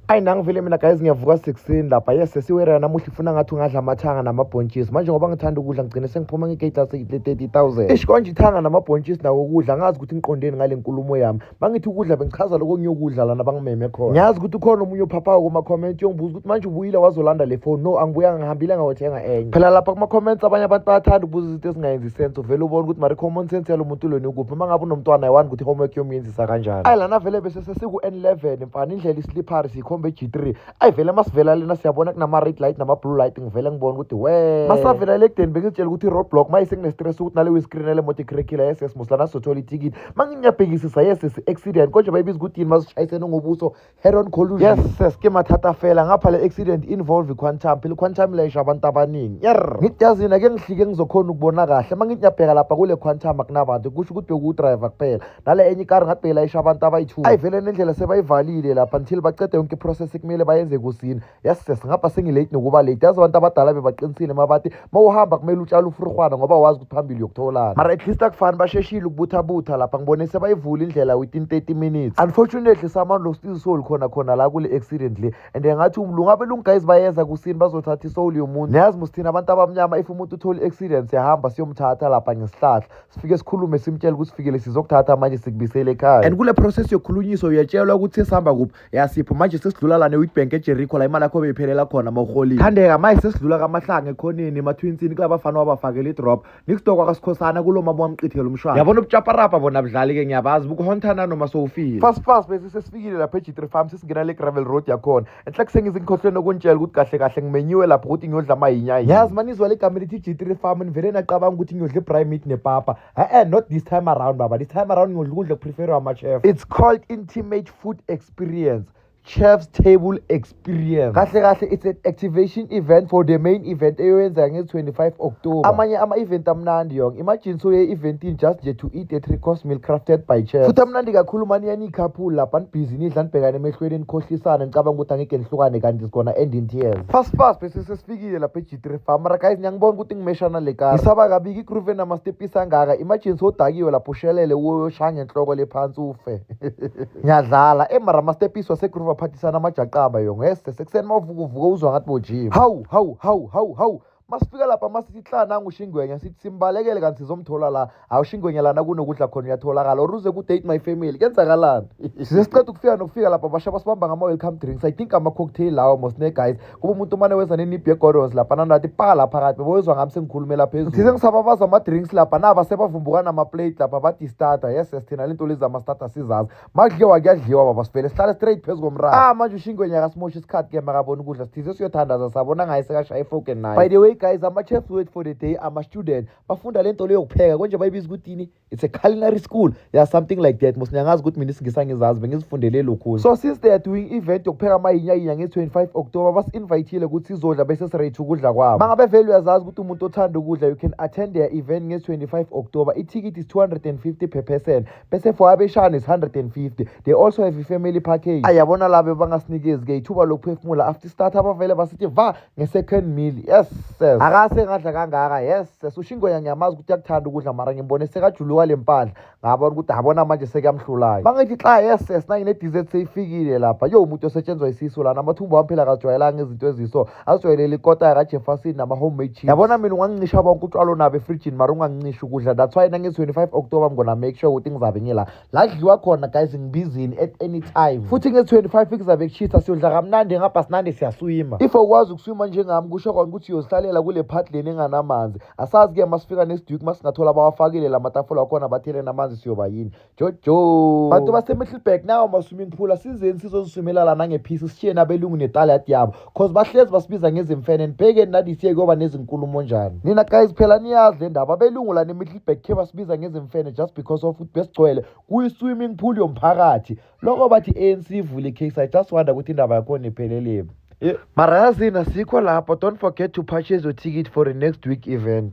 ayi nangivele mina guys ngiyavuka sekuseni lapha yes sesiwerera namuhla ifuna ngathi ungadla amathanga namabhontshisi manje ngoba ngithanda ukudla ngigcine sengiphuma ngegate lase-thirty thousand ish konje ithanga namabhontshisi nawo ukudla angazi ukuthi ngiqondeni ngale nkulumo yami bangithi ukudla bengichaza lokho ngiyokudla lana bangimeme khona ngiyazi ukuthi ukhona omunye ophaphayo kuma-comment yongibuza ukuthi manje ubuyile wazolanda le foni no angibuyanga ngihambile ngawothenga enye phela lapha kuma-comments abanye abantu bayathanda ukubuza izinto ezingayenzi sense uvele ubona ukuthi mari common sense yalo muntu lweni ukuphi uma ngabe unomntwana ayiwani ukuthi homework yomyenzisa kanjani ayi lana vele sesiku-N11 mfana indlela islippery siyikhomba e-G3 ayi vele masivela lena siyabona kunama-red light nama-blue light ngivele ngibona ukuthi we masavela le ekudeni bengizitshela ukuthi i-roadblock ma isekunestress ukuthi nale wiscreen yale moto ikhirekhila yes yes muslana sizothola ithikithi ma nginyabhekisisa yes yes accident konje bayibiza ukuthi yini masishayisene ngobuso head on collusion yes yes ke mathatha fela ngapha le accident involve i-quantum phela i-quantum layisha abantu abaningi yer ngithi yazini ake ngihlike ngizokhona ukubona kahle ma nginyabheka lapha kule quantum akunabantu kusho ukuthi bekuwudriver kuphela nale enye ikari ngathi belayisha abantu abayi-two ayivele nendlela sebayivalile lapha until bacede yonke iprocess kumele bayenze kusini yases ngapha sengilate nokuba late yazi abantu abadala bebaqinisile mabathi ma uhamba kumele utshale ufurhwana ngoba wazi ukuthi phambili yokutholana mara at least akufani basheshile ukubuthabutha lapha ngibone sebayivula indlela within 30 minutes unfortunately samani lo still soul khona khona la kule accident le and ngathi lungabe lunguguys bayeza kusini bazothatha isoul yomuntu niyazi musithina abantu abamnyama if umuntu uthole i-accident siyahamba siyomthatha lapha ngesihlahla sifike sikhulume simtshele ukuthi sifikele sizokuthatha amanye sikubisele ekhaya and kule process yokukhulunyiswa uyatshelwa ukuthi sesihamba kuphi yasipho manje sesidlula lana ewitbank ejericho la imali yakho beyiphelela khona ma uholile thandeka manje sesidlula kamahlanga ekhoneni emathinsini kulaba fana wabafakela idrop nikudokwa kasikhosana kulo mama wamqithela umshwana yabona ubutshaparapa bona budlali-ke ngiyabazi bukuhontana noma sowufile fast fast bese sesifikile lapha ejitre farm sesingena le gravel road yakhona enhla kusengize ngikhohlwe nokuntshela ukuthi kahle kahle ngimenyiwe lapho ukuthi ngiyodla amayinya yazi manizwa legama elithi g3 farm nivele nacabanga ukuthi ngiyodla ibry meat nepapa e-e not this time around baba this time around ngiyodla ukudla okupreferiwe ama-chef it's called intimate food experience chef's table experience kahle kahle it's an activation event for the main event eyoyenzeka ngezi-25 october amanye ama-event amnandi yonke imagine so ye-eventini just nje to eat a three course meal crafted by chef futhi amnandi kakhulu mani couple lapha nibhizi nidla nibhekane emehlweni nikhohlisane nicabanga ukuthi angeke nihlukane kanti sigona end in tears fast fast bese sesifikile lapha e-g3 farm mara guys ngiyangibona ukuthi ngimeshana le kara ngisaba kabiki igroove enamastepisi angaka imagine sodakiwe lapho ushelele uyoshaya ngenhloko le phansi ufe ngiyadlala emara amastepisi wasegroove aphathisana amajaqaba yo ngese sekuseni mawuvukuvuka uzwa ngathi bojima hawu hawu hawu hawu hawu masifika lapha masithi hla nangu shingwenya sithi simbalekele kanti sizomthola la hawu shingwenya lana kunokudla khona uyatholakala or uze ku-date my family kenzakalani size siqeda ukufika nokufika lapha basha basibamba ngama-welcome drinks i think ama-cocktail lawo mosne guys kuba umuntu umane wenza nenibhi yegorons lapha nanathi pa la phakathi beboyezwa ngami sengikhulumela phezulu size ngisababaza ama-drinks lapha naba sebavumbukana ama-plate lapha badistata yes yes thina le nto lezi ama-stata sizazi makudliwa kuyadliwa baba sivele sihlale straight phezu komraro ah manje ushingwenya akasimosha isikhathi ke makabona ukudla sithize siyothandaza sabona ngaye sekashaya ifoken naye by the way guys ama-chefs wait for the day ama-student bafunda le nto leyo kupheka konje bayibiza ukuthini it's a culinary school ya yeah, something like that mos niyangazi ukuthi mina isingisa ngizazi bengizifundele lokhunye so since they are doing event yokupheka amayinyainya nge-25 october basi-invayithile ukuthi sizodla bese sirate ukudla kwabo ma ngabe vele uyazazi ukuthi umuntu othanda ukudla you can attend their event nge-25 october ithikithi is 250 per person bese for abeshana is 150 they also have i-family package ayabona labo bangasinikezi-ke ithuba lokuphefumula after start abavele basithi va nge-second meal yes ses akase ngadla kangaka yes ses ushingoya ngiyamazi ukuthi akuthanda ukudla mara ngimbone sekajuluka le mpahla ngabona ukuthi abona manje sekuyamhlulayo bangithi xa yes ses nanginedizet seyifikile lapha yo umuntu osetshenzwa isisu lana amathumbu wami phela kajwayelanga izinto eziso azijwayelele ikota yakajefferson nama-homemade chips yabona mina ungangincisha bonke utshwalo nabo efrijini mara ungangincisha ukudla that's why nange-25 october i'm gonna make sure ukuthi ngizabe ngila la kudliwa khona guys ngibizini at any time futhi nge-25 kuzabe kushisa siyodla kamnandi ngapha sinande siyaswima if awukwazi ukuswima njengami kusho kona ukuthi uyozihlalela kule part leni enganamanzi asazi-ke masifika nesidwiki masingathola abawafakile la matafula wakhona batheleni amanzi siyoba yini jojo bantu basemittelburg nawo ama-swimming pool asizeni sizoziswimela la nangephisi sishiye nabelungu netalad yabo cause bahlezi basibiza ngezimfene nibhekeni nadisiye kuyoba nezinkulumo njani nina guys phela niyazi le ndaba abelungu la nemittelburg khe basibiza ngezimfene just because of ukuthi besigcwele kuyi-swimming pool yomphakathi loko bathi i-anc ivule icase i just wonder ukuthi indaba yakhona iphelelemi eh, mara yazini asikho lapho don't forget to purchase your ticket for the next week event